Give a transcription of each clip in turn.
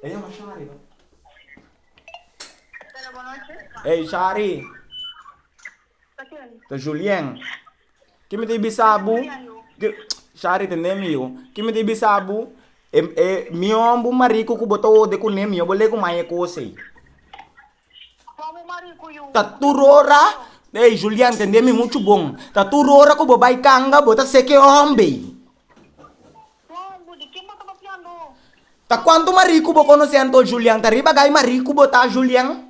E yama Shari no. Hello, bonoche. Ey, Shari. Ta ken? Ta Julien. Ki mi ta bisa bu? Ki, Shari tende mi yo. Ki mi ta bisa bu? E, e mihon bu mariku ku bo ta ode kuné mihon bo le ku man e kos ei. Ta tur ora, ey Julian tende mi muchu bon, ta tur ora ku bo bai kanga bo ta sek e hombe. Ta kuantu Marie ku bo konosé anto Julian ta riba gai Marie ku bo ta Julian?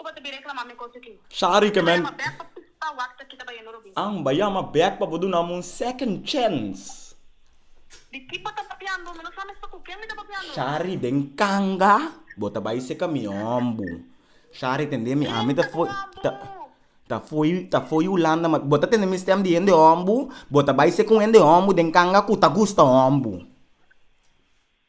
Cu bo ta bira e clamá mi cos aki? Shari que men. Tabaya ma back pa pista wax aki tabayendo Robin. Ang baya ma back pa bo dunam un second chance. Di ki bo ta papiando? Mi no sa mes pa cu ken mi ta papiando. Shari den canga bo ta bay seca mi ombu. Shari tende mi ami ta foy ta foy ta foy Hulanda ma bo ta tende mi stem di hende ombu bo ta bay seca un hende ombu den canga cu ta gusta ombu.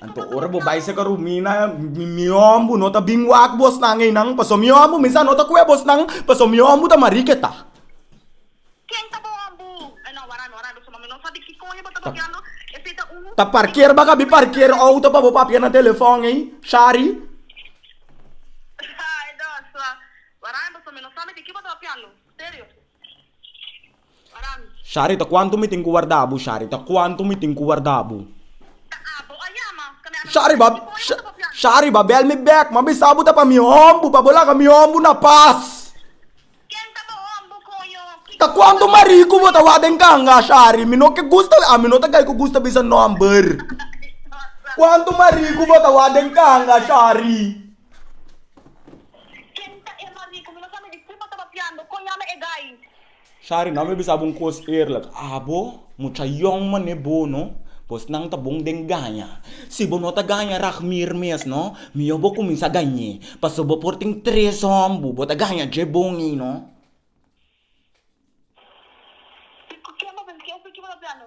Anto ora bo bai saka rumina mi ombu no ta bin wak bosnan einan paso mi ombu mi sa no ta kue bosnan paso mi ombu ta mariketa. Ken ta bo ombu? E no wara no wara beso ma mi no sa di kiko bo ta papiando esei ta un. Ta parker ba ka bi parker outo pa bo papia na telefon ei shari. Ay dos wara beso mi no sabi di ki bo ta papiando serio. Sharita, Cuanto mi tin cu warda bo? Sharita, Cuanto mi tin cu warda bo? Shariba, Shariba, bel mi bek ma bisa bo ta pa mi hombo pa bo laga mi hombo na pas. Ta cuanto mari cu bo ta wak den canga, Shari? Mi no ke gusta, ami no ta gay cu gusta bisa nomber. Cuanto mari cu bo ta wak den canga, Shari? Shari, no mi a bisa bo un cos eerlijk, abo mucha yong mané bo no, bosnan ta bon den gaña, si bo no ta gaña Ragmir mes no, mihor bo cuminsa gañ'é, pasobra bo por tin tres hombu, bo ta gaña dje bon ey no. Kiko ke bo a bisa? Ke esaki bo ta planu?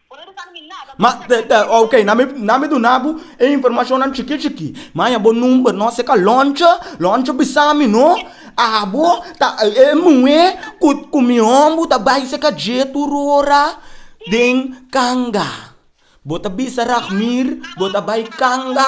Ma, ok, nan mi nan mi duna bo e informashonnan chikí chikí. Mi a haña bo number nos e ka lònchi, lònchi bisa mi no abo ta e muhé ku ku mi hòmber ta bai se ka dje tur ora den kanga. Bo ta bisa Raghmir bo ta bai kanga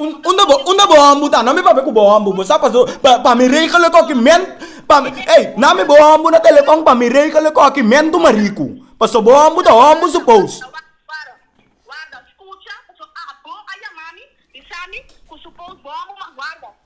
Unda bo unda bo hombu ta? Na mi papia ku bo hombu. Bo sa paso pa pa mi regel e koki men pa mi ey na mi bo hombu na telefon pa mi regel e koki men tu mariku paso bo hombu ta hombu su pous.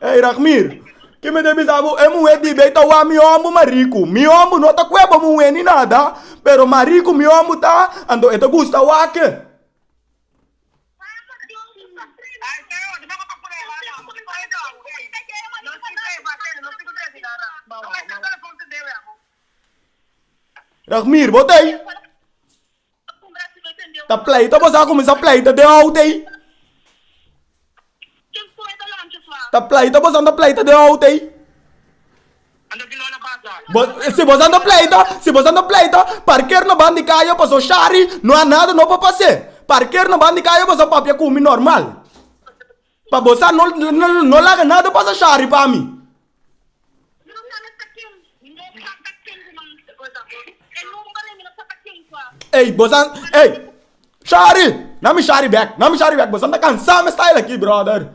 Ey Rachmir, ke mi ta bisa bo, e muhe dibi ei ta wak mi hombu mas riku. Mi hombu no ta kue bo muhe ni nada, pero mas riku mi hombu ta, anto e ta gusta wak. Rachmir, bo ta ei? Ta pleita bo sa kuminsá pleita den oute ei. Ta pleita bo sa ta pleita den oute ei. Bo si bo sa ta pleita si bo sa ta pleita parker na ban di kaya paso shari no a nada no por pasé parker na ban di kaya bo sa papia kumi normal. Pa bo sa no laga nada pasa shari pa mi. Ey bo sa ey shari na mi shari bek na mi shari bek bo sa ta cansa mi style aki brother.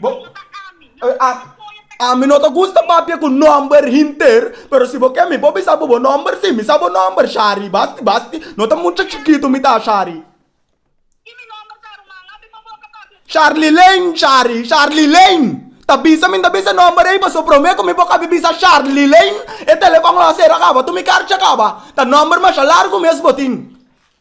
Bo Ami no ta gusta papia ku nòmber hinter, pero si bo ke mi por bisa bo bo nòmber si mi sa bo nòmber, Shari. Basti basti, no ta mucha chikitu mi ta, Shari. Sharlilein, Shari, Sharlilein. Ta bisa mi no ta bisa e nòmber ei pasobra promé ku mi por kabi bisa Sharlilein e telefòn lo a sera kaba, tur mi karchi a kaba. Ta nòmber masha largu mes bo tin.